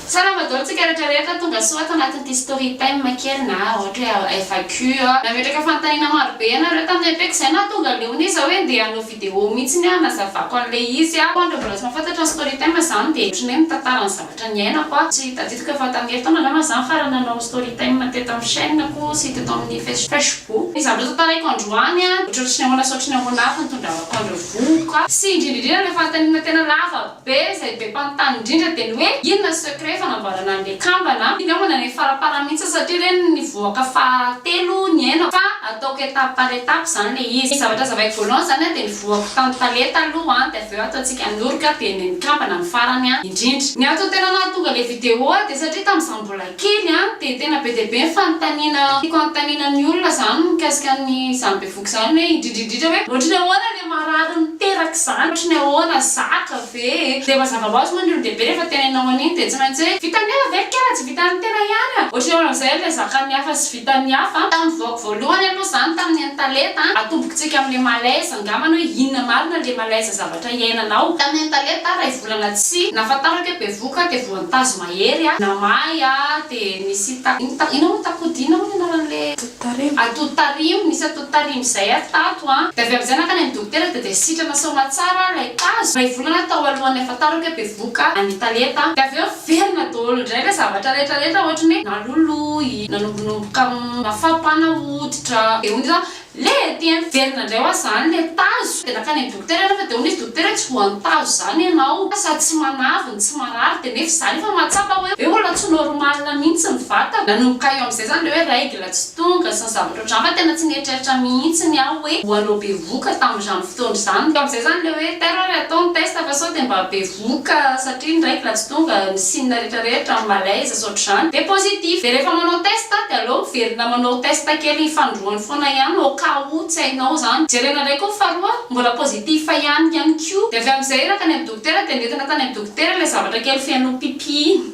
Tsara fa daholo tsika rehetra rehetra tonga soa ato anatin'ity story time kely na ohatra hoe FAQ a. Nametraka fanontaniana maro be ianareo tamin'ny MP-ko izay nahatonga leona izy hoe ndeha hanao vidéo mihitsy ny aho hanazavako an'ilay izy a. Ho an'ireo mbola tsy mahafantatra ny story time izany dia ohatran'ny hoe mitantara ny zavatra niainako aho. Tsy tadidiko fa tamin'ny herintaona angamba izaho no farany nanao story time teto amin'ny chaîne-ko sy teto amin'ny face facebook. Izany mbola tantaraiko androany a. Ohatrohatry ny ahoana sy ohatry ny ahoana avy no tondravako an'ireo vohoka. Sy indrindra indrindra ilay fanontaniana tena lava Be izay be mpanontany indrindra dia ny hoe inona ny secret fanamboarana an'ilay kambana, iny angamba ilay faraparany mihitsy aho satria ireny nivoaka faha telo niainako fa ataoko étape par étape izany ilay izy. Ny zavatra hazavaiko voalohany izany an dia nivoako tany tale taloha an dia avy eo ataontsika noroka dia ny ny kambana ny farany an indrindra. Ny antony tena nahatonga ilay vidéo ahy dia satria tamin'izaho mbola kely an dia tena be dia be ny fanontaniana tiako hanontaniana ny olona izany mikasika ny izany be Boka izany hoe indrindra indrindra hoe ohatry ny ahoana le marary miteraka izany ohatry ny ahoana zatra ve e dia mazava hoazy moa ny olon-dehibe rehefa teneninao an'iny dia tsy maintsy hoe vitan'ny hafa ve ny kera tsy vitan'ny tena ihany a ohatry ny ahoana amin'izay le zakan'ny hafa sy vitan'ny hafa tamin'ny vaoko voalohany aloha izany tamin'ny an'i taleta a atombontsika amin'le malaise angambany hoe inona marina le malaise zavatra iainanao tamin'ny an'i taleta iray volana tsy nahafantarako hoe bevohoka aho dia voantazo mahery a namahy a dia nisy ta inona moa takodia inona moa ny anaran'le Tariho. Atout tariho, nisy atout tarihiny izay ato tato an. Dia avy amin'izay nankany amin'ny dokotera dia dia sitrana soamatsara ilay tazo, iray volana tao alohan'ny hahafantarako hoe bevoka an, mitalenta an. Dia avy eo niverina daholo indray ilay zavatra rehetra rehetra ohatry ny hoe naloloy, nanombonomboka mafampana hoditra, dia hoy ny sasany, le! Dia niverina indray ho azy izany ilay tazo, dia nankany amin'ny. Dokotera nefa dia hono izy dokotera hoe tsy voantazo izany ianao sady tsy manavy ny tsy marary dia nefa izany efa mahatsapa hoe hoe olona tsy normal mihitsy ny vatako. Nanomboka eo amin'izay izany ilay hoe règle tsy tonga sy ny zavatra ohatr'izany fa tena tsy nieritreritra mihitsy ny aho hoe ho hanao bevoka tamin'izany fotoana izany. Teo amin'izay izany ilay hoe tairo ary atao ny test fa sao dia mba be doka satria ny raiko raha tsy tonga ny signe rehetra rehetra amin'ny malaise sy ohatr'izany dia positif dia rehefa manao test dia aleo miverina manao test kely ny fanindroany foana ihany au cas où tsy hainao izany jerena indray koa ny faharoa mbola positif ihany ihany koa dia avy amin'izay iraka any amin'ny dokotera dia nentina tany amin'ny dokotera ilay zavatra kely feno pipi iny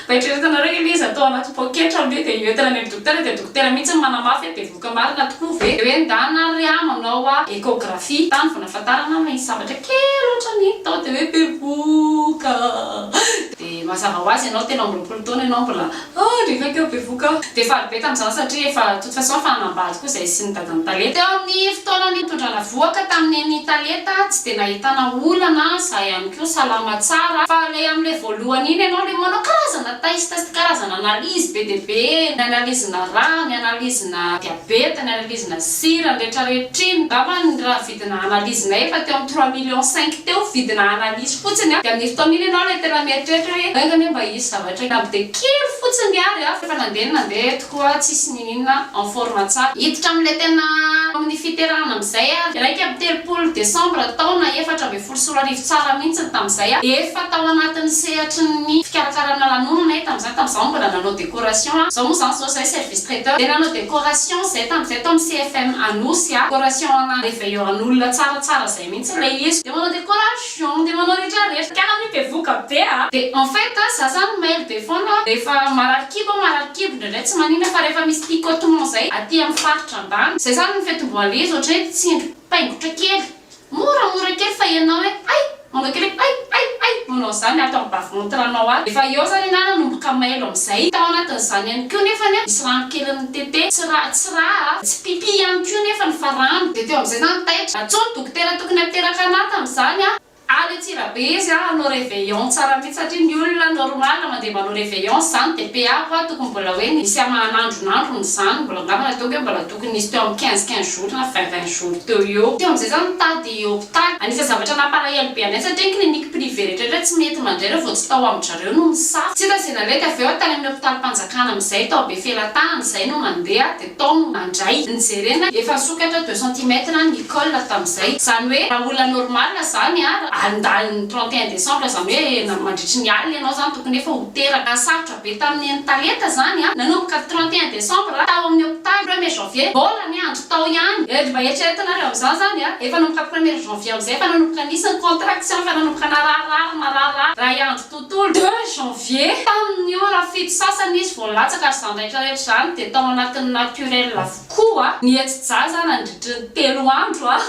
Mba eritreretanareo hoe ilay izy atao anaty poketra aloha dia io entana any amin'ny dokotera dia dokotera mihitsy no manamafy hoe bevohoka marina tokoa ve? Dia hoe ndana ary aho nanao échographie tany vao nahafantarana aho hoe nisy zavatra kely ohatran'ny hita tao dia hoe bevohoka ah! Dia mazava ho azy ianao telo amby roapolo taona ianao mbola ah! Rehefa keo bevohoka aho dia faly be tamin'izany satria efa De toute façon efa hanambady koa zay sy ny dadan'i Taleta. Teo amin'ny fotoana nitondrana vohoka tamin'ny nen'i Taleta tsy dia nahitana olana za ihany koa salama tsara fa le amle voalohany iny ianao le manao karazana test test karazana analyse be dia be ny analyse-na rà ny analyse-na diabeta ny analyse-na sira ny rehetra rehetra iny angamba ny raha Vidina analyse nay efa teo amin'ny trois millions cinq teo, vidina analyse fotsiny a, de amin'io fotoana iny ianao ilay tena mieritreritra hoe enga anie mba hisy zavatra na dia kely fotsiny ary a, fa nandeha ny nandeha eto koa tsisy nininona en forme tsara. Hiditra amin'ilay tena amin'ny fiterahana amin'izay ary iraika amby telopolo décembre taona efatra ambin'ny folo sy roa arivo. Boursora Arivo Tsara mihintsy ny tamin'izay a! Efa tao anatin'ny sehatry ny fikarakarana lanonana ahy tamin'izany, tamin'izaho mbola nanao décoration a! Izao moa izany izao izahay service traiteur dia nanao décoration izahay tamin'izay tao amin'ny CFM Anosy a! Décoration en réveillant an'olona tsara tsara izay mihintsy ilay izy. Dia manao décoration, dia manao rehetra rehetra. Kara anie bevoka be a! Dia en fait a, izaho izany mailo be foana a! Rehefa marary kibo aho, marary kibo, indraindray tsy maninona fa rehefa misy picotement izay aty amin'ny faritra ambany, izay izany ny fetim-boanlizy ohatran'ny hoe tsindry paingotra kely, Mora mora kely fa ianao hoe ay manao kely hoe ay ay ay manao izany ato amin'ny bavy montranao ato efa eo izany anarana no mboka mailo amin'izay tao anatin'izany ihany koa nefany a misy rano kely nitete tsy ra tsy ra a tsy pipi ihany koa nefany fa rano dia teo amin'izay za no taitra antsoy ny dokotera tokony hateraka anah tamin'izany a ary Antsirabe izy a hanao reveillon tsara mihitsy satria ny olona normal mandeha manao reveillon izany dia PA hoa tokony mbola hoe ny misy hamahan'andron'androny izany mbola angamba nataoko hoe mbola Tokony nisy teo amin'ny quinze quinze jours na vingt vingt jours teo eo. Teo amin'izay za nitady hopitaly. Anisan'ny zavatra nampalahelo be anay satria ny clinique privée rehetraretra tsy mety mandray ireo vao tsy tao amin-dRareo no misafoka. Tsy hita izay naleky avy eo, tany amin'ny hopitalim-panjakana amin'izay tao Befelatahana izay no nandeha dia tao no nandray. Nijerena efa nisokatra deux centimètres ny col tamin'izay. Izany hoe raha olona normal izany ary nidahiny ny trente et un décembre izany hoe mandritry ny alina ianao izany tokony efa ho teraka. Sarotra. be tamin'ny entaeta izany nanomboka trente et un décembre tao amin'ny hopitaly premier janvier mbola ny andro tao ihany eh ry mba eritreretinareo amin'izany izany efa nanomboka premier janvier amin'izay efa nanomboka nisy ny contraction efa nanomboka nararirary marary iray andro tontolo deux janvier tamin'ny ora fito sasany izy vao nilatsaka ary izany rehetra rehetra izany dia tao anatin'ny naturel avokoa ny hetsi-jaza nandritry ny telo andro ah.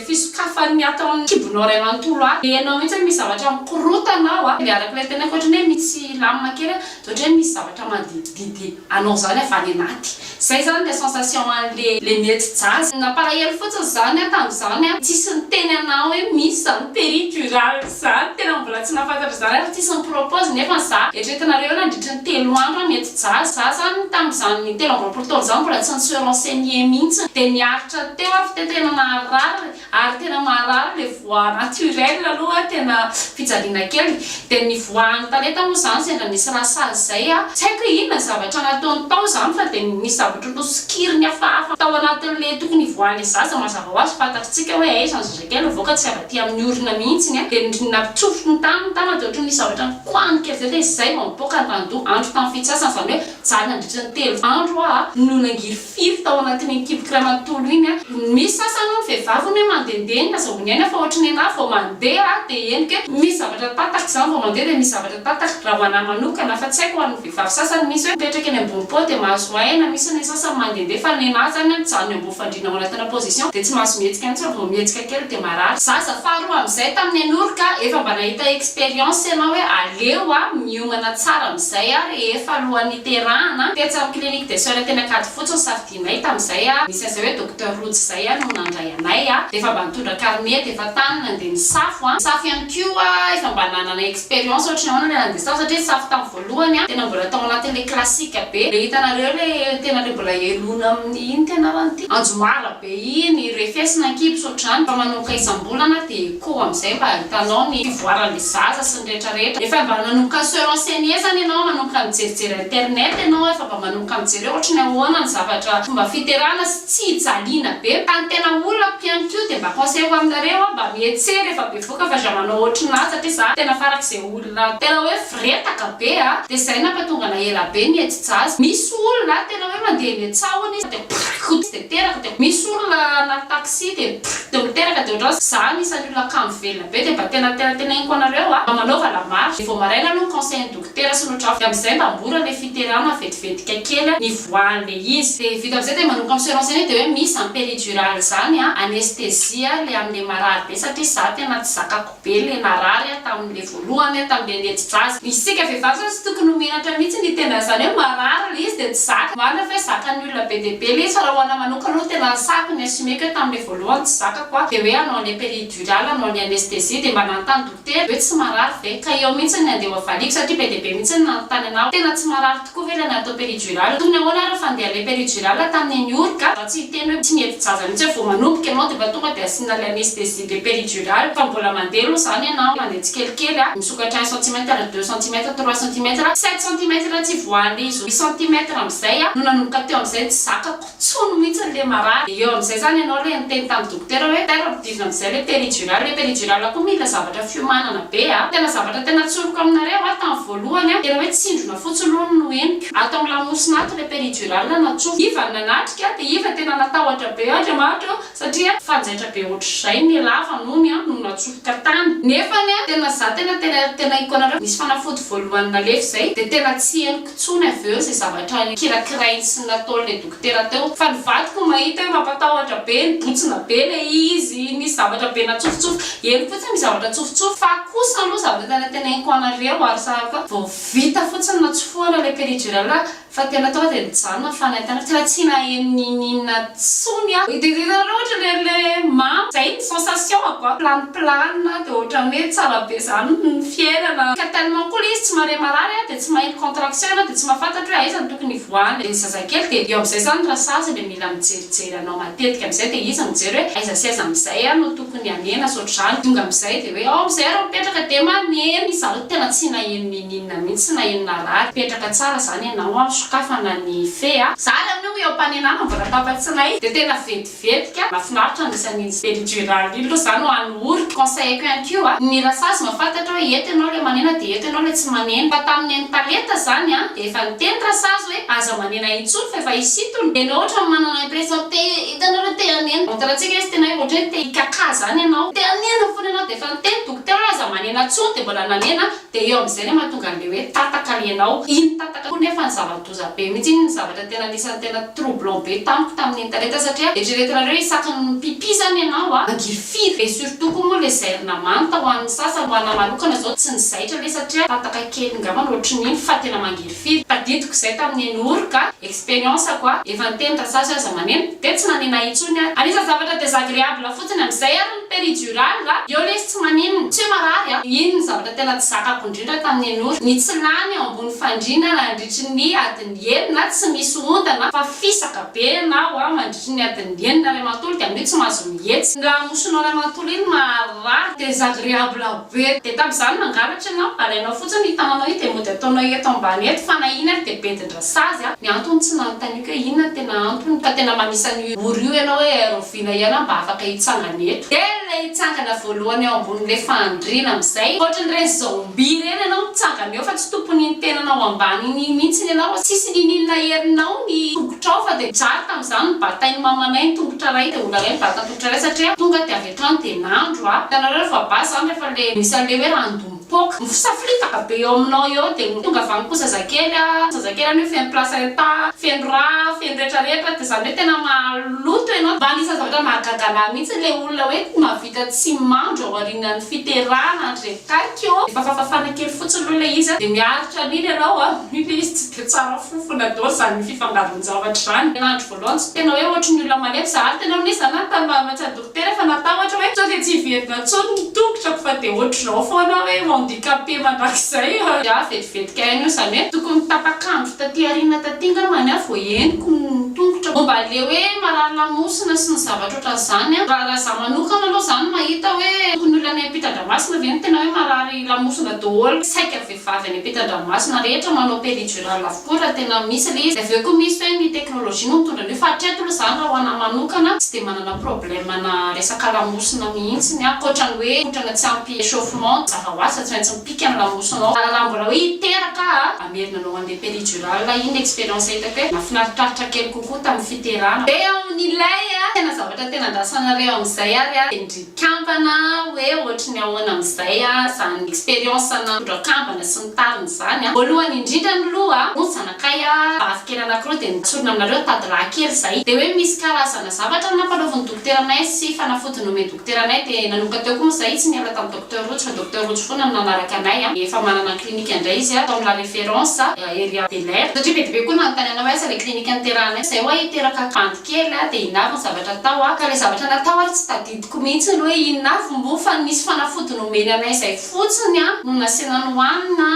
fisokafany ny ato amin'ny kibonao iray manontolo ato dia ianao mihitsy hoe misy zavatra mikorotana ao dia araka ilay tenako ohatran'ny hoe misy lamina kely an, dia ohatran'ny hoe misy zavatra manodidididdy anao izany avy any anaty, izay izany ilay sensation an'ilay mety jazz. Nampalahelo fotsiny izany aho tamin'izany an, tsisy niteny anah hoe misy izany peri-tural. Za tena mbola tsy nafantatra zany ary tsisy ni-propose nefa ny za eritreretinareo eo nandritry ny telo andro an mety ja za zany tamin'izany telo amby roapolo taona zany mbola tsy ni-se renseigner mintsy de niaritra teo aho f'te tena naharary ary tena maharary le voix naturelle aloha tena fijaliana kely de ny voix any taneta moa zany sendra nisy raha sazy zay an tsy haiko hoe inona ny zavatra nataony tao zany fa de nisy zavatra nosokiriny hafahafa tao anatin'le tokony hivoahan'le zaza mazava hoazy fantatritsika hoe aiza ny Dia navoaka tsy avy aty amin'ny orona mihitsy ny ahy, dia nampitsofoko ny taniny tany aho, dia ohatran'ny nisy zavatra nikoahan'ny kely vely hoe izay vao nipoaka ny ranodoha, andro tamin'ny fitsasana, izany hoe zary nandritra ny telo andro aho no nangirifiry tao anatin'iny kiboky iray manontolo iny. Misy sasany hono vehivavy hono hoe mandehandeha iny, azahoany aina fa ohatry ny anah vao mandeha aho dia henoko hoe misy zavatra tatako, izany vao mandeha dia misy zavatra tatako, raha ho anah manokana, fa tsy haiko ho an'ny vehivavy sasany misy hoe mipetraka eny ambony pao dia mahazo aina, misy ny sasany mandehandeha fa ny anah izany mijanona eo ambony. Fandriana manatona position de tsy mahazo mihetsika mihitsy fa vao mihetsika kely de marary. Zaza faharoa amin'izay tamin'ny an'ory ka efa mba nahita expérience ianao hoe aleo a miomana tsara amin'izay a rehefa alohan'ny hiterahana, tetsy amin'ny clinique des soeurs teny Ankadifotsy no safidianay tamin'izay a, nisy an'izay hoe docteur Rojo izay a no nandray anay a, dia efa mba nitondra carnet dia efa tany nandeha nisafo a, nisafo ihany koa efa mba nanana expérience ohatry ny ahoana ilay nandeha nisafo satria nisafo tamin'ny Voalohany a, tena mbola tao anatin' le classique be, le hitanareo le tena le mbola helony amin' ny inn ty ianao an ty Anjomara be iny, refesina an-kibs ohatr'izany fa manomboka isam-bolana dia ikoa amin'izay mba hitanao ny fivoaran' le zaza sy ny rehetra rehetra, efa mba nanomboka se renseigner zany ianao, manomboka mijerijery internet ianao, efa mba manomboka mijery hoe ohatry ny ahoana ny zavatra fomba fiterahana sy tsy hijaliana be, ka ny tena olako ihany koa dia mba conseil ho aminareo a, mba mietseha rehefa bevoka fa za manao ohatry ny azy satria za tena farak'izay olana. Raha tena hoe firetaka be a, dia izay nampatonga anay ela be ny ety jazz. Misy olona a, tena hoe mandeha eny an-tsahona izy dia prrrk ho tsy dia teraka, dia misy olona anaty taxi dia prrrk dia miteraka, dia ohatran'ny hoe za anisan'ny olona kamo velona be, dia mba tena tena teneniko anareo a, mba manaova la marche, dia vao maraina aloha ny conseil ny dokotera sy ny ohatr'afa, dia amin'izay mba mora ilay fiterana vetivetika kely a, nivoahan'ilay izy. Dia vita amin'izay dia manomboka mi-se renseigner dia hoe misy izany péridurale izany a, anesthésie a, ilay amin'ilay marary be satria za tena tsy zakako. be le narary a tamin le voalohany a tamin le lety draza isika vehivavy zany tsy tokony ho menatra mihitsy ny tena zany hoe marary le izy de tsy zaka marina fa hoe zakan olona be dia be le izy fa raha ho ana manokana aloha tena resahiko ny asumeko hoe tamin le voalohany tsy zakako a de hoe hanao ny peridurale hanao ny anesthesie de mba nanontany dokotera hoe tsy marary ve ka eo mihitsy ny andeha ho avaliako satria be dia be mihitsy ny nanontany ana hoe tena tsy marary tokoa ve le natao peridurale tokony ahoana ary fa ndeha le peridurale tamin ny eniorka za tsy hiteny hoe tsy mety jaza mihitsy hoe vao manomboka ianao de mba tonga de asiana le anesthesie de péridural fa mbola mandeha aloha zany ianao mandeha tsikelikely a misokatra un centimètre deux centimètre trois centimètre sept centimètre tsy voahan'ny izy roa centimètre amizay a no nanomboka teo amizay tsy zakako tsony mihitsy le marary de eo amizay zany ianao le niteny tam dokotera hoe taira ampidirina amizay le péridural le péridural koa mila zavatra fiomanana be a tena zavatra tena tsoriko aminareo a tam voalohany a tena hoe tsindrona fotsiny aloha no henoko ato am lamosina ato le péridural natsofoka iva no nanatrika de iva tena natahotra be ohatra maharitra hoe Satria fanjaitra be ohatr'izay ny lava nony no natsofoka tany. Nefa ny ahy tena za tena tena tena henoko anareo nisy fanafody voalohany nalefy zay de tena tsy henoko tsony avy eo ze zavatra nikirakirainy sy nataony le dokotera teo fa ny vadiko mahita hoe mampatahotra be nibotsina be le izy nisy zavatra be natsofotsofoka henoko fotsiny ny zavatra tsofotsofoka fa kosa aloha zavatra tena tena henoko anareo ary sa koa vao vita fotsiny natsofohana le peridurale Fa tena tonga dia nijanona fa nahita an'io tena tsy naheno n'ininona tsony aho. Délire loatra le le mamo. Zay ny sensation ako a. Plane plane de otrany hoe tsara be zany ny fiainana. Ka tellement koa le izy tsy mahare marary a de tsy maheno contraction ianao de tsy mahafantatro hoe aiza no tokony hivoahana le zazakely de eo amzay zany rasazy le mila mijerijery anao matetika amzay de izy mijery hoe aiza sy aiza amzay a no tokony hanena sy otrzany tonga amzay de hoe ao amzay ary mipetraka de maneno izy zany tena tsy naheno n'ininona. Inona mihitsy tsy naheno narary. Petraka tsara zany ianao an, sokafana ny fe a. Za ary amin'io eo am-panenana mbola tapa-tsinay de tena vetivetika. Mafinaritra misy an'iny Ben Gérard iny lo za no any Ory. Conseilleko ihany koa ny Rasazy mba fantatro hoe eto ianao le manena de eto ianao le tsy manena. Fa tamin'ny neny Talenta zany an de efa niteny Rasazy hoe aza manena intsony fa efa hisintona. De enao otrany manana impression te hitanao le te hanena. Montre antsika izy tena hoe otrany te hikakà zany ianao. Te hanena fona ianao de efa niteny dokotera hoe aza manena tsony de mbola nanena. Dia eo amin'izay ilay mahatonga an'ilay hoe tataka ianao. Iny tataka koa nefa ny zava-doza be mihitsy, iny ny zavatra tena anisan'ny tena troublant be tamiko tamin'ny internet satria eritreretinareo isaky ny mpipi zany ianao a, mangiry firy? Dia surtout koa moa ilay zairina manta ho an'ny sasany, ho anahy manokana izao tsy nizaitra anie satria tataka kely ngambany ohatrin'iny fa tena mangiry firy? Tadidiko izay tamin'ny eny ory ka, experience-ko a, efa niteny raha sahy aza maneno, dia tsy nanena intsony aho. Anisan'ny zavatra desagreable fotsiny amin'izay ary ny. Péridurale va? Eo lesy tsy maninona. Tsy hoe marary an! Iny no zavatra tena tsy zakako indrindra tamin'ny Henora, ny tsy lany eo ambony fandriana nandritry ny adiny enina tsy misy ondana fa fisaka be ianao an! Mandritry ny adiny enina ray manontolo dia amin'io tsy mahazo mihetsy. Ny lamosinao ray manontolo iny maharary, désagréable be. Dia tamin'izany mangalatra ianao, alainao fotsiny io tananao io dia mody ataonao eto ambany eto fa na iny ary dia bedin-dRasazy an! Ny antony tsy nanontaniako hoe inona no tena antony fa tena manisa an'io ora io ianao hoe air Vina ianao mba afaka hitsangana eto. Dia ilay hitsangana voalohany eo ambonin'ilay fandriana amin'izay hoatran'ireny zombie ireny ianao mitsangana eo fa tsy tompon'iny tenanao ambany iny mihitsy ianao fa tsisy niniana herinao ny tongotrao fa dia zary tamin'izany ny batain'i mamanay ny tongotra iray dia olana hoe ny batan-tongotra iray satria tonga dia avy hatrany dia nandro aho hitanareo rehefa base izany rehefa ilay misy an'ilay hoe random Pok, ny fisaflitaka be eo aminao eo dia ho tonga avy any koa zazakely a, zazakely anio feno placenta, feno ra, feno retraretra dia izany hoe tena maloto ianao, fa anisan'ny zavatra mahagaga anahy mihitsy ilay olona hoe mahavita tsy mandro aorianan'ny fiterahana andre kaiky ô, efa fafafana kely fotsiny aloha ilay izy a, dia miaritra an'iny ianao a, io ilay izy tsy dia tsara fofona daholo izany fifangaron-javatra izany, ny andro voalohany tsy tena hoe ohatry ny olona malemy za ary tena nisy za nanontany maha-médecin, Tena efa natahotra hoe sao dia tsy hiverina intsony ny tongotrako fa dia ohatr'izao foana hoe handicapé mandrakizay aho. Dia vetivety kay anio, izany hoe tokony tapak'andro taty aoriana taty ngambany aho vao henoko ny tongotrako. Momba an'ilay hoe marary lamosina sy ny zavatra ohatran'izany an, raha izaho manokana aloha izany mahita hoe tokony olona any am-pitan-dramasina ve no tena hoe marary lamosina daholo saika. vehivavy any ampitandranomasina rehetra manao péridural avokoa raha tena misy le izy, avy eo koa misy hoe ny technologie no mitondra an'io fa hatreto aloha zany raha ho anahy manokana tsy dia manana problème ana resaka lamosina mihitsiny aho ankoatra ny hoe kotrana tsy ampy échauffement zava ho azy fa tsy maintsy mipika ny lamosinao fa raha mbola hoe hiteraka aho hamerina anao handeha péridural aho iny ny expérience hitako hoe nafinaritratitra kely kokoa tamin'ny fiterana dia amin'ilay tena zavatra tena andrasanareo amin'izay ary aho dia ny Kambana hoe ohatry ny ahoana amin'izay izany expérience ana mpitondra kambana sy ny tariny izany a. Voalohany indrindra miloha hono zanakay a, vavy kely anakiroa dia notsorina aminareo tady lahy kely izay. Dia hoe misy karazana zavatra nampanaovin'ny dokotera anay sy fanafody nomen'ny dokotera anay dia nanomboka teo koa moa izay tsy niala tamin'i Docteur Rojo fa Docteur Rojo foana no nanaraka anay a. Efa manana clinique indray izy a tao amin'ny la référence ery à Belair satria be dia be koa nanontany anay hoe aiza ilay clinique niterahanay izay ho'a hiteraka kambana. kely aho dia inavo ny zavatra atao aho ka ilay zavatra natao ary tsy tadidiko mihitsy ny hoe inona avy moa fa ny nisy fanafody nomeny anay izay fotsiny no nasina nohanina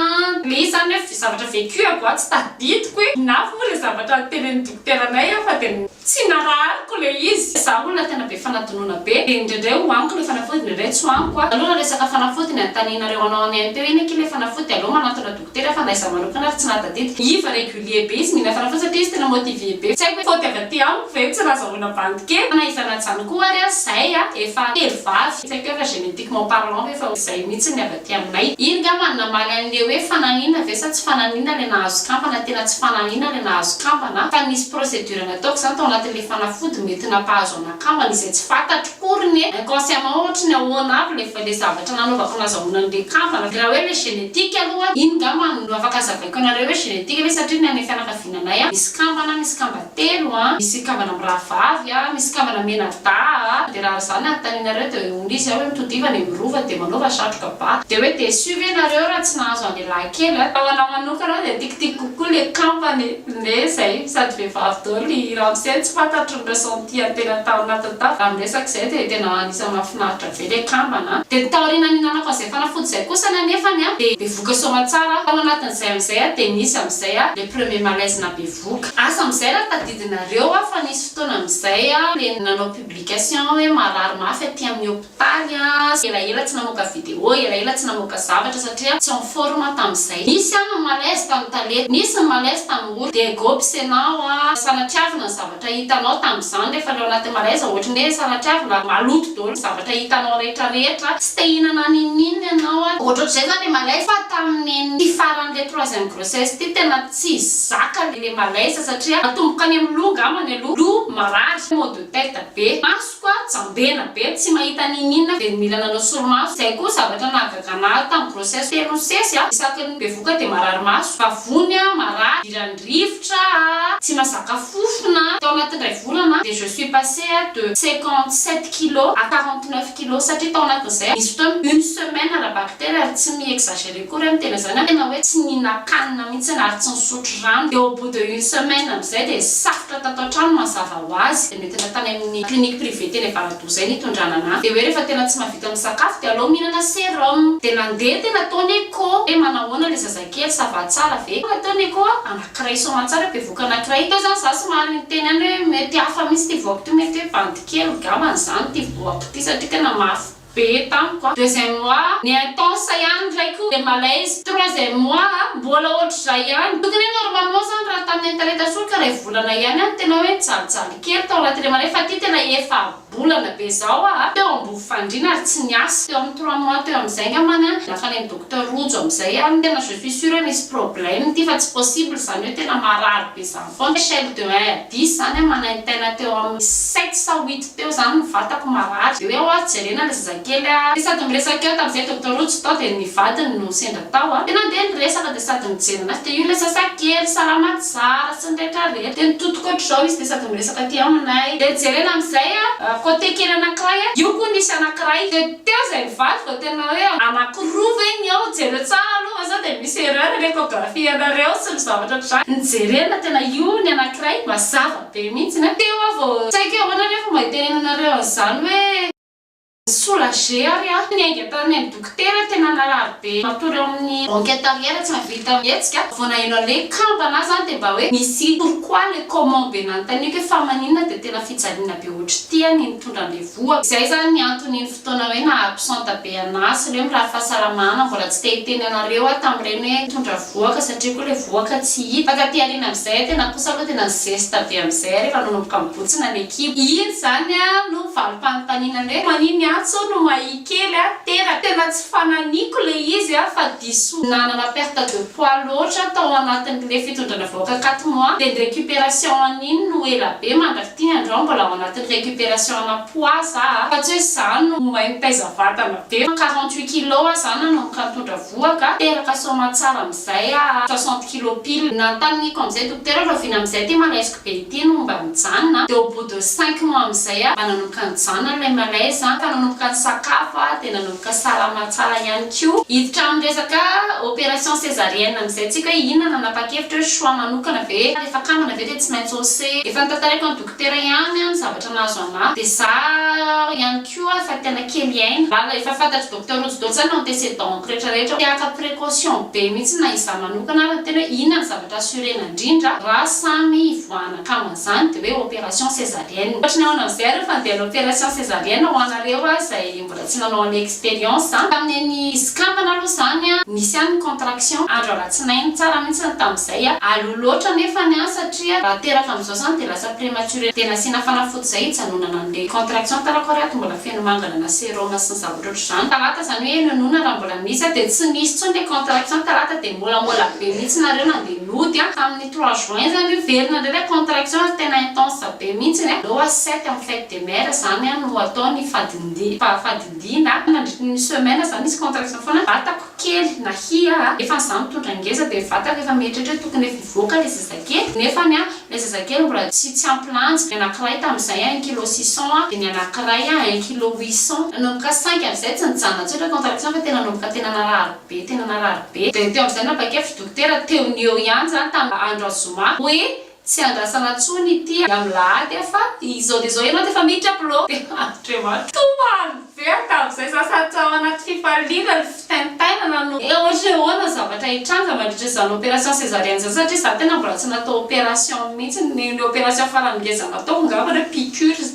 ilay izy izany hoe zavatra vécu à goa tsy tadidiko hoe inavo moa ilay zavatra notenenin'ny dokotera anay aho fa dia tsy narahariko ilay izy izaho olona tena be fanadinoana be dia indraindray ho aniko ilay fanafody indraindray tsy ho aniko a aleo raha resaka fanafody ny anontanianareo anao any AMP hoe inona akia ilay fanafody dia aleo manantona Tena fa na izaho manokana ary tsy nahatadidy. Iva régulier be izy mila fara fotsiny satria izy tena motivé be. Tsy haiko hoe faute avy aty amiko ve io tsy nazahoana bandy kely. Na iza na zany koa ary aza zahay a efa telo vavy. Tsy haiko hoe efa génétiquement parlant ve fa izay mihitsy ny avy aty aminay. Iny ngamba no namaly an'ilay hoe fananina ve sa tsy fananina ilay nahazo kamba na tena tsy fananina ilay nahazo kamba na fa nisy procédure nataoko izany tao anatin'ilay fanafody mety nampahazo an'ahy. Kambana izay tsy fantatro porony e! Inconsciemment ohatry ny ahoana avy le fa le zavatra nanaovako nazahoana an'le kambana de raha hoe le génétique aloha iny ngamba no afaka azavaiko anareo hoe génétique ve satria ny anay fianakaviana anay a misy kambana misy kamba telo a misy kambana mirahavavy a misy kambana menadaha a de raha zany no anontanianareo de hoy izy a hoe mitodiva any amin'ny rova de manaova satroka ba de hoe déçu ve nareo raha tsy nahazo an'le lahy kely a? Fa ho anah manokana de tikitikiko kokoa le kambana e! Neh zay sady vehivavy daholo i ramose tsy fantatro. Mpitondra Sôntia tena tao anatin'ny tafika tamin'ny resaka izay dia tena anisan'ny mahafinaritra be ilay kambana an! Dia taoriana nihinanako an'izay fanafody izay kosa anefany an, dia bevoka soamantsara tao anatin'izay amin'izay an, dia nisy amin'izay an, le premier malaise nabevoka. Asa amin'izay raha tadidinareo an, fa nisy fotoana amin'izay an, le nanao publication hoe marary mafy aty amin'ny hôpital, Tany aho elaela tsy namoaka video, elaela tsy namoaka zavatra satria tsy en forme tamin'izay. Nisy aho ny malaise tamin'ny tale, nisy ny malaise tamin'ny ory, dia go pisenao a, sanatriavina ny zavatra hitanao tamin'izany rehefa le ao anatin'ny malaise ohatry ny hoe sanatriavina, maloto daholo ny zavatra hitanao rehetra rehetra, tsy te hihinana n'inon'inona ianao a, ohatrohatr'izay zany le malaise, fa tamin'ity farany le troisième grossesse ity tena tsy zaka le malaise satria natomboka any amin'ny loha angambany aloha, loha marary, maux de tête be, maso. Toa jambena be tsy mahita n'ininona dia mila nanao solomaso. Izay koa zavatra nahagagana ahy tamin'ny grossesse telo ny sesy a! Isaky ny bevoka dia marary maso, vavony a, marary, idiran'ny rivotra a, tsy mazaka fofona a! Tao anatin'indray volana dia je suis passée a de cinquante sept kilos à quarante neuf kilos satria tao anatin'izay nisy fotoana une semaine ara-bakitera ary tsy mi-exagerer. Akory aho niteny an'izany, ary ianao hoe tsy nihinan-kanina mihitsy ary tsy nisotro rano dia au bout de une semaine amin'izay dia safotra tato an-trano mazava ho azy, dia noentina tany amin'ny clinique privée teny Avaradoha izay nitondrana an'ahy, dia hoe rehefa tena tsy mahavita misakafo dia alao mihinana serum, dia nandeha tena tao ny echo hoe manahoana ilay zazakely, ça va tsara ve, tonga tao ny echo anankiray soamantsara bevoka anankiray, teo izany izaho somary niteny ihany hoe mety hafa mihitsy ity voako ity, mety hoe bandy kely ngambany izany ity voako ity satria tena mafy. be tamiko a deuxième mois ny intense ihany ndray ko le malaise troisième mois a mbola ohatr'izay ihany tokony hoe normalement zany raha tamin'ny internet soa ka ray volana ihany a no tena hoe nijalijaly kely tao anatin'ilay maraina fa ty tena efa-bolana be zao a teo ambony fandriana ary tsy niasa teo amin'ny trois mois teo amin'izay ngambany a lasa nen'i docteur rojo amin'izay a no tena je suis sure hoe misy problème ty fa tsy possible zany hoe tena marary be zany. Von der Schelle de un diz zany aho manaintaina teo amin'ny sept sa huit teo zany ny vatako marary de hoe ho'a jerena le zazakely a de sady miresaka eo tamzay docteur Rojo tao de ny vadiny no sendra tao a de nandeha ny resaka de sady nijery anazy de io le zazakely salama tsara sy ny rehetra rehetra de nitotoko otr'izao izy de sady miresaka aty aminay de jerena amzay a côté kely anakiray a io koa nisy anakiray de teo zay ny vadiko vao tena hoe anakiroa ve ny ao jereo tsara aloha fa sao de misy erreur ny echographie anareo. ny zavatra ohatr zany no jerena tena io ny anakiray mazava be mintsiny a! Teo aho vao saika ahoana re fomba hitenenanareo an'izany hoe. Soulager ary aho, ny ainga tany amin'ny dokotera tena narary be matory ao amin'ny banque intérieur tsy nahavita mihetsika, vao naheno an'ilay kambana aho zany dia mba hoe misy pourquoi le comment be nanontaniako hoe fa maninona dia tena fijaliana be ohatr'ity a ny nitondra an'ilay voa, izay zany ny antony fotoana hoe naha absente be anah sy ireo mirary fahasalamana, mbola tsy te hiteny anareo aho tamin'ireny hoe mitondra vohoka satria koa ilay vohoka tsy hita, fa taty aoriana amin'izay tena kosa aloha tena ny zesta be amin'izay rehefa nanomboka nibotsina ny ekipa, iny izany no valim-panontaniana ny hoe manin i Antso no mahia kely an, tena tena tsy fananiko ilay izy fa diso nanana perte de poids loatra tao anatin'ilay fitondrana vohoka quatre mois dia ny recuperation an'iny no ela be, mandrafitiny androany mbola ao anatin'ny recuperation ana. Ho ahy za a, fa tsy hoe za no mahay mitaiza vatana be, fa quarante huit kilos aza a nanomboka nitondra voa ka, teraka soamantsara amizay aho a, soixante kilos pile. Nantaniniako amizay dokotera hoe rahoviana amizay ity malaisiko be ity no mba mijanona, de au bout de cinq mois amizay aho mba nanomboka nijanona ilay malaise a, ka nanomboka nisakafo aho de nanomboka salama tsara ihany koa. Hiditra amin'ny resaka operation cesarienne amizay tsika hoe inona nanapakevitra hoe choix manokana ve, rehefa kambana ve de tsy maintsy ose, efa notantaraiko an'i dokotera. Tera ihany an ny zavatra nahazo an Marc de za ihany koa efa tena kely hiaina lalina efa fantatry docteur rojo dodza ny antecedent rehetra rehetra te haka precaution be mihitsy na izaho manokana ary ny tena hoe inona ny zavatra assuré na indrindra ra samy hivoahana kama zany de hoe operation cesarienne ohatry ny ao an Alzere fa andeha hanao operation cesarienne ho anareo a zay Mbola tsy nanao any experience a. Tamin'ny an'i Scandal aloha izany a, nisy ihany ny contraction andro alatsinainy, tsara mihitsy ny tamin'izay a. Aleo loatra nefany a, satria raha teraka amin'izao izany dia lasa prematuré. Dia nasiana fanafody izay hijanonana an'ilay contraction tarako ary ato mbola feno mangana na serum sy ny zavatra ohatr'izany. Talata izany hoe nonina raha mbola misy a, dia tsy nisy intsony ilay contraction talata dia molamola be mihitsy nareo nandeha nody a. Tamin'ny trois juin izany io, very nandray ilay contraction ary tena intense be mihitsy a. Aleo a sept amin'ny fête. MR, Izany an no atao ny fahafadindiana, nandritry ny semaine za misy contraction foana ny vatako kely na hia a, nefa ny za mitondra ngeza dia ny vatako efa mieritreritra hoe tokony efa hivoaka ilay zazakely, nefany an ilay zazakely mbola tsy tsy ampy lanja, ny anakiray tamin'izay an un kilo six cents a, dia ny anakiray an un kilo huit cents, nanomboka saingy amin'izay tsy nijanona tsotra contraction fa tena nanomboka tena narary be tena narary be, dia teo amin'izay nabakefitry dokotera teo ny eo ihany izany tamin'ny andro zoma hoe Tsy andrasana tsony ity a milahady a fa izao de zao ianao defa miditra upload e Andriamanitra Tompo a miverina amizay za sady tao anaty fifaliana ry fitaintainana no Eo ohatra hoe ahoana ny zavatra hitranga mandritra izany opération césarienne izany satria za tena mbola tsy natao opération mihitsy ny ny opération farany ngeza nataoko ngamba hoe piqûre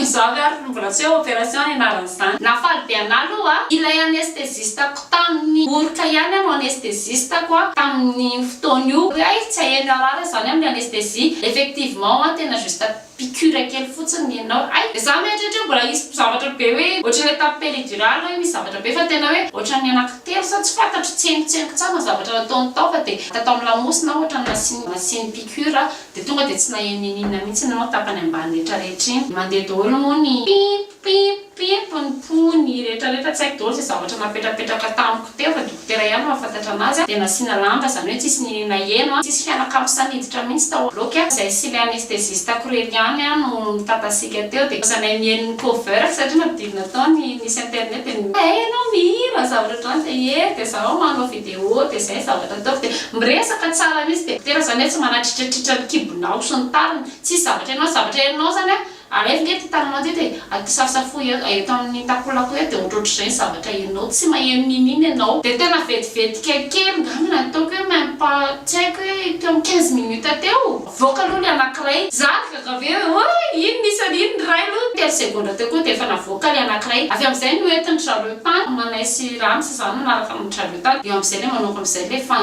za ve ary mbola tsy hoe opération ny anaran'izany Nafaly be anah aloha a! Ilay anesthésiste Tamin'ny oroka ihany aho no anesthésiste-ko a, tamin'iny fotoana io. Hoe hay tsy hahery narary izany amin'ny anesthésie. Effectivement a, tena juste piqûre kely fotsiny ny anao. Hay, za mieritreritra hoe mbola hisy zavatra be hoe ohatran'ny hoe tamin'ny péridurale hoe misy zavatra be fa tena hoe ohatran'ny anankitelo sa tsy fantatro, tsengotsengo tsara ny zavatra nataony tao fa dia tao amin'ny lamosina aho ohatran'ny nasiany nasiany piqûre dia tonga dia tsy naheno n'inon'inona mihitsy ny tapany ambany rehetrarehetra iny. Mandeha daholo moa ny pip! Pip pip ny pony rehetra rehetra tsy haiko daholo izay zavatra napetrapetraka tamiko teo fa dokotera ihany mahafantatra anazy a dia nasiana lamba izany hoe tsisy ny naheno a tsisy fianakavy sahy niditra mihitsy tao bloc a izay sy ilay anestesiste ako irery ihany a no mitatasiaka teo dia lasa nahay mihaino ny cover satria nampidirina tao ny nisy internet dia ny hay ianao mihira zavatra ohatr'izany dia ye dia zaho manao video dia izay zavatra ataoko dia miresaka tsara mihitsy dia dokotera izany hoe tsy manatritratritra ny kibonao sy ny tariny tsisy zavatra ianao zavatra ianao izany a Alaivo nge ty tananao teto e! Akisafosafoy eto amin'ny takolako eto dia ohatrohatr'izay ny zavatra henonao, tsy maheno n'inon'inona ianao. Dia tena vetivetika kely ngamba ny ataoko hoe même pas tsy haiko hoe teo amin'ny quinze minutes teo, avoaka aloha ny anankiray, za nigagave hoe oay iny nisy an'iny ny ray aloha, telo segondra teo koa dia efa navoaka ilay anankiray, avy amin'izay no entin-dry zareo tany, manay sy rano sy izany manaraka an-dry zareo tany, eo amin'izay ilay manao ohatran'izay ilay fa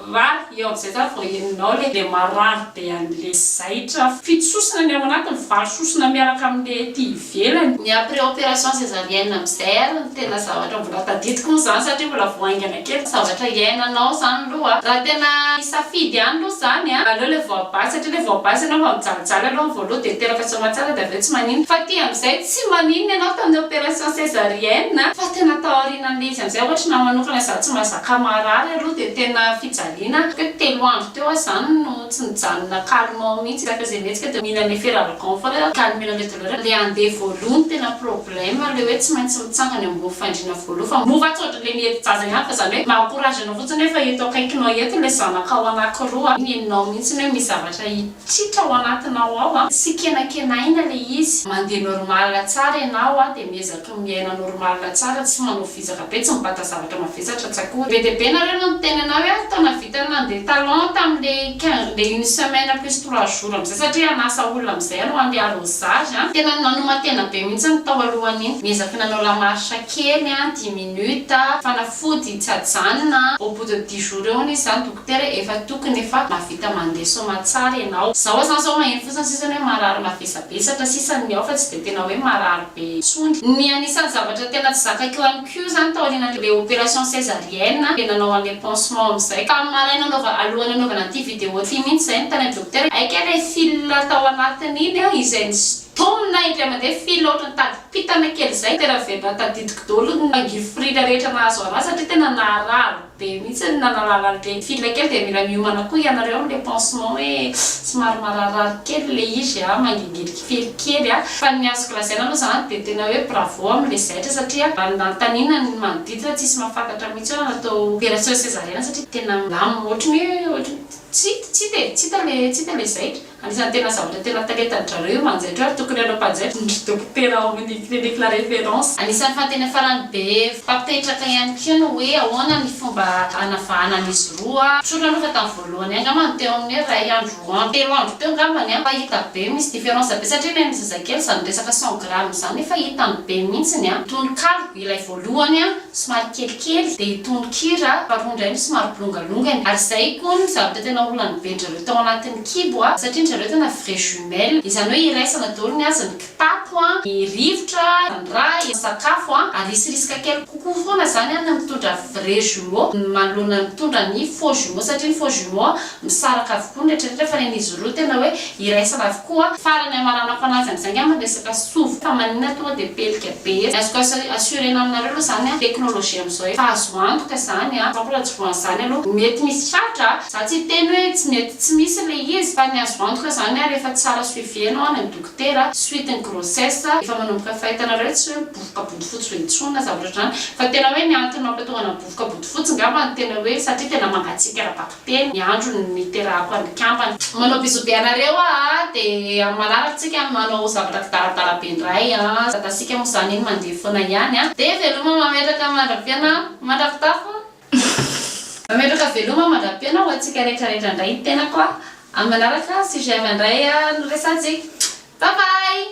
Raha eo amin'izay zany vao henonao le le marary be an'le zaitra fito sosona ny ao anatiny valo sosona miaraka amin'le ety ivelany. Ny après opération césarienne amin'izay ary no tena zavatra mbola tadidiko moa zany satria mbola vao haingana kely zavatra iainanao zany aloha a. Raha tena hisafidy ihany aloha zany a aleo le voabahy satria le voabahy zany efa mijalijaly aloha ny voaloha de teraka soa tsara de avy eo tsy maninona fa ty amin'izay tsy maninona ianao tamin'ny opération césarienne fa tena tao aorianan'le izy amin'izay ohatry ny ahy manokana za tsy mazaka Ka marary aloha dia tena fijaliana. Teo telo andro teo aho zany no tsy nijanona calmement mihitsy, rehefa izay mihetsika dia mila ny feralgan foana hoe calmer le douleur, le andeha voaloha no tena problème, le hoe tsy maintsy mitsangana eo ambony fandriana voaloha fa mora atsy ohatran'ilay miety jaza ihany fa zany hoe maha courage anao fotsiny hoe fa eto akaikinao eto ilay zanakao anakiroa, iny henonao mihitsy ny hoe misy zavatra hitritra ao anatinao ao, tsy kenakenaina le izy, mandeha normal tsara ianao dia miezaka. Toa miaina normal tsara tsy manao vizaka be tsy mibata zavatra mavesatra tsy akory. Be dia be nareo no niteny anah hoe aza taona vita ny nandeha talon tamin'le quinze le une semaine plus trois jours amizay satria hanasa olona amizay anao handeha arrosage an! Tena nanoman-tena be mihitsy ny tao alohan'iny. Niezaky nanao la marche kely an, dix minutes, fanafody tsy ajanona an! Au bout de dix jours eo hono izy zany dokotera efa tokony efa mahavita mandeha soamatsara ianao. Zaho zany zao maheno fotsiny sisa ny hoe marary mavesabesatra sisa ny ao fa tsy dia tena hoe marary. Betsondry. Ny anisan'ny zavatra tena tsy zakako ihany koa izany taorian'ilay opération césarienne dia nanao an'ilay pansement amin'izay. Tamin'ny maraina anaova, alohan'ny anaovana ity vidéo ity mihitsy izay no tany amin'ny dokotera, hay kay ilay fil tao anatin'iny an, izay nisintomina indray mandeha, fil ohatran'ny tadim-pitana kely izay, tena velona tadidiko daholo ny mangirifiry ilay rehetra nahazo an'ahy satria tena naharary. Be mihitsy ny nanalala an'le fille kely dia mila miomana koa ianareo amin'le pansement hoe somary mararirary kely ilay izy a, mangingirika fely kely a. Fa ny azoko lazaina aloha zany dia tena hoe bravo amin'le zaitra satria raha ny nanontaniana ny manodidina tsisy mahafantatra mihitsy hoe atao opération césarienne satria tena milamina ohatry ny hoe ohatry ny tsy hita e, tsy hita le zaitra. Anisan'ny tena zavatra tena talentan-dry zareo io manjaitra io ary tokony hanao mpanjaitra ny ry dokotera ao amin'ny clinique la référence. Anisan'ny fahateny farany be mpampetraka ihany koa ny hoe ahoana ny fomba hanavahana an'izy roa. Tsorina aloha fa tamin'ny voalohany ihany angamba no teo amin'ny hoe iray andro, roa andro, telo andro teo angamba ny an, fa hita be misy différence be satria ilay an'ny zazakely izany resaka cent grammes izany efa hitany be mihitsy ny an, tononkalo ilay voalohany an, somary kelikely, dia tononkira faharoa indray no somary bolongalongany, ary izay koa ny zavatra tena olany be-dry zareo tao anatin'ny. Kibo a, satria ny zareo tena vrai jumelle, izany hoe iraisana daholo ny azy, ny kitapo a, ny rivotra, ny rà, ny sakafo a, ary hisy risque kely kokoa foana zany a ny mitondra vrai jumeaux manoloana ny mitondra ny faux jumeaux, satria ny faux jumeaux a misaraka avokoa ny retraretra fa ny an'izy roa tena hoe iraisana avokoa. Farany hamaranako anazy amizay ngamba ny resaka sovo fa maninona tonga dia pelika be eto, ny azoko assurena aminareo aloha zany a technologie amizao efa azo antoka zany a, sampla tsy voanzany aloha mety misy tratra a. Za tsy hiteny hoe tsy mety tsy misy le izy fa ny azo antoka zany ary efa tsara suivi enao any am dokotera suite ny grossesse efa manomboka fahitanareo tsy hoe mibofoka bodofotsy be intsony na zavatra otrany fa tena hoe ny antony mampatongana mibofoka bodofotsy ngamba no tena hoe satria tena mangatsiaka ra bakiteny ny andro niterahako any kambana. Manao bisous be anareo aa de am manaraka tsika no manao zavatra kidaradara be ndray aa zatasika mo zany iny mandeha fona ihany aa de veloma mametraka mandra piana mandra pitafo Mametraka veloma mandra-piaina ho antsika rehetra rehetra indray ny tenako a! Amin'ny manaraka sujet avy handray a no resahantsika. Bye bye!